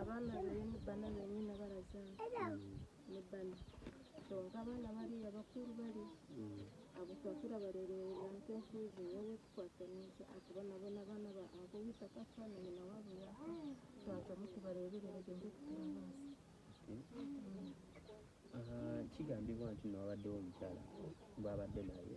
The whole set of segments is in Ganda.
abaana benyini bana benyini abaraza ni bana kyonka abaana bariya bakuru bari abo twakira barererera nte nkuzi wowe tukwataniza ati bona bona abana ba abo wita kasa na nyina wabo ya twata mutu barererera gende kuturabasa kigambibwa nti nowabaddewo omukyala bwabadde naye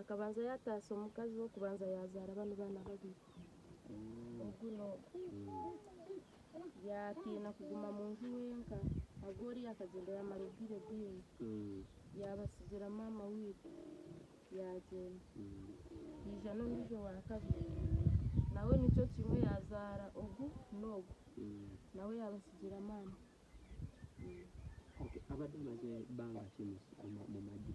akabanza yataasa omukazi wokubanza yazaala bano baana babiri mm. oguno yatiina kuguma mu nju wenka agwoli yakagenda yamala ebbiri ebbiri mm. yabasigira maama wiiku yagenda mm. ija n'ondijo wakabiri nawe nikyo kimwe yazaala ogu n'ogu nawe yabasigira maama abadde amaze banga kimu mu magi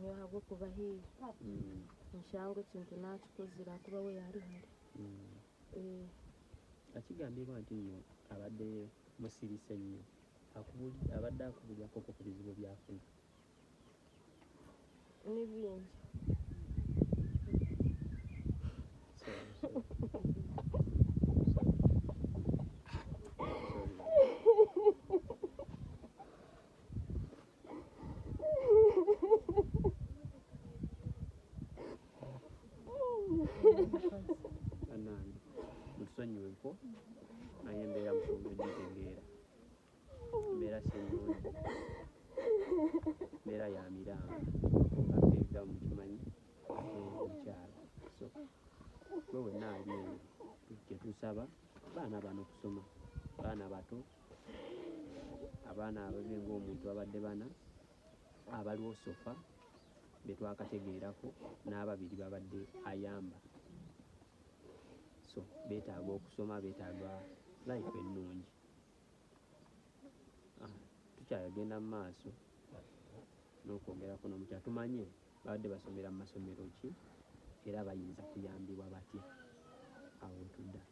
nyo habwokuba hii mm. nshangwe ekintu nakikuzira kuba we yali hali mm. eh. akigambibwa nti nyo abadde musirise nnyo abadde akubujakoko ku bizibu byafuna n'ibindi bannange mutusonyiwe ko naye embeera musonga egitegeera embeera sinungi embeera ya miranga akeega mukimanyi omukyalo so gwe wenna ali eyo kyetusaba baana bano kusoma baana bato abaana ababe ng'omuntu abadde bana abaliwo sofa betwakategeerako n'ababiri babadde ayamba so betaaga okusoma betaaga life ennungi ah, tukyagenda mu maaso n'okwongera kuno mukya tumanye babadde basomera mu masomero ki era bayinza kuyambibwa batya awo wetudda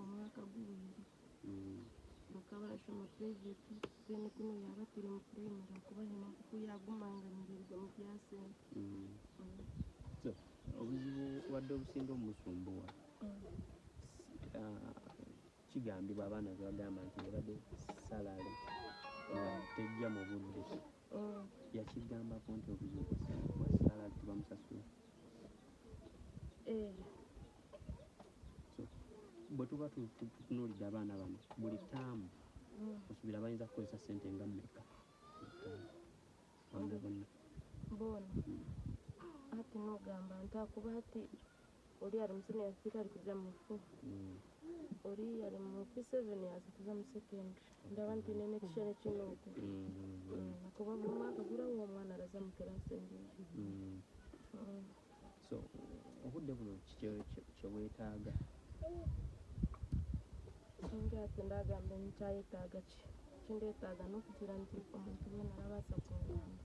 omwaka guwedde bakaba basoma purayiveti bene kuno yabatire mu purayimari okuba hema kuku yagumanganirirwa mu byasente obuzibu wadde obusinga omusumbuwa kigambibwa abaana bebagamba nti ebadde salale nga tejja mu budde mm. yakigambako nti obuzibu bwasala tebamusasula eh. bwe tuba tutunuulidde abaana bano buli taamu mm. osuubira bayinza kukozesa sente nga mmeka bona bona mm. ati nogamba nti akuba ati oli ali mu senior fita ali kuja mu fo oli ali mu p7 aza kuja mu second ndaba nti nene kishene kino oku nakuba mm. mm. buli mwaka gulawo omwana alaza mu kelasi enjinji mm. so obudde buno kyewetaaga nga ate ndagamba nkyayetaaga ki kindetaaga nokutira nti omuntu wena alabaasa kungamba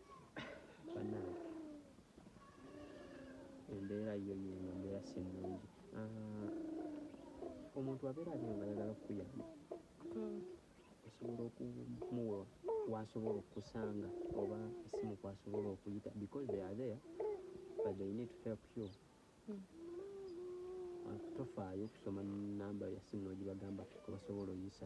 banange embeera yo yeno embeera sinungi ah, omuntu abeera aliyo nga ayagala okukuyamba hmm. osobola okumuwa wasobola okukusanga oba esimu kwasobola okuyita because they are there but they need to help you hmm. ah, tofaayo okusoma namba yasimu nogibagamba kubasobola oyisa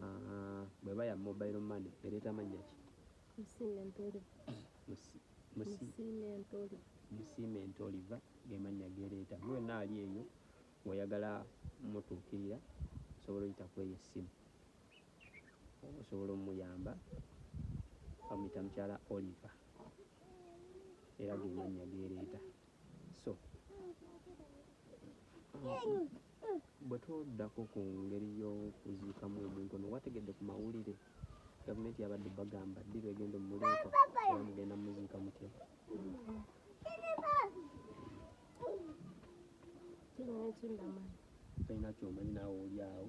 Ah, bweba ya mobile money ereeta mannya ki musiime ntoliva gemannya gereeta gwe wenna ali eyo weyagala mutuukirira osobola oyita kweyo essimu osobola omuyamba bamuyita mukyala oliva era gemannya gereeta so bwe twoddako ku ngeri y'okuziikamu omuntu ono wategedde ku mawulire gavumenti yabadde bagamba ddi lwegenda omumuliika era mugenda muziika mutya tolina kyomanyi naawe oli awo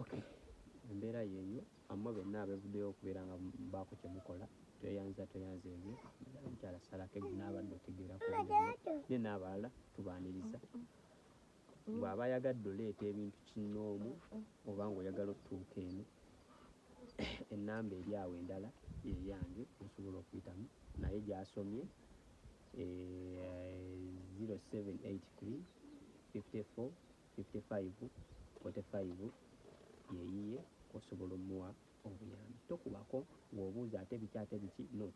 okay embeera yeeyo amma benna abevuddeyo okubeera nga baako kyemukola tweyanza tweyanza ebyo mukyala salako ebyo naabadde otegeerako ne naabalala tubaaniriza bw'aba ayagadde oleeta ebintu kinnoomu oba ngaoyagala otutuuka eno ennamba eri awo endala yeyange osobola okuyitamu naye gyasomye yeyiye osobola omuwa obuyambi tokubako ng'obuuza ate biki ate biki no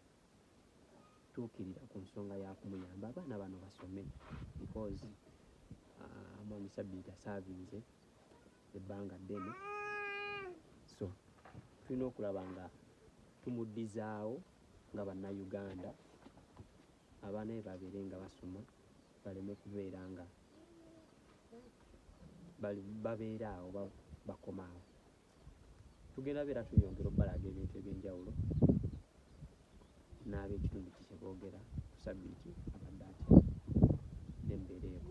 tuukirira ku nsonga yakumuyamba abaana bano basome because uh, mwami sabiiti asaavinze ebbanga ddene so tulina okulaba nga tumuddizaawo nga bannayuganda abaana be babeere nga basoma baleme kubeera nga babeera awo bakoma awo tugenda beera tuyongera okubalaga ebintu ebyenjawulo n'abekitundu kikyeboogera ku sabbiiti abadde atya nembeera eko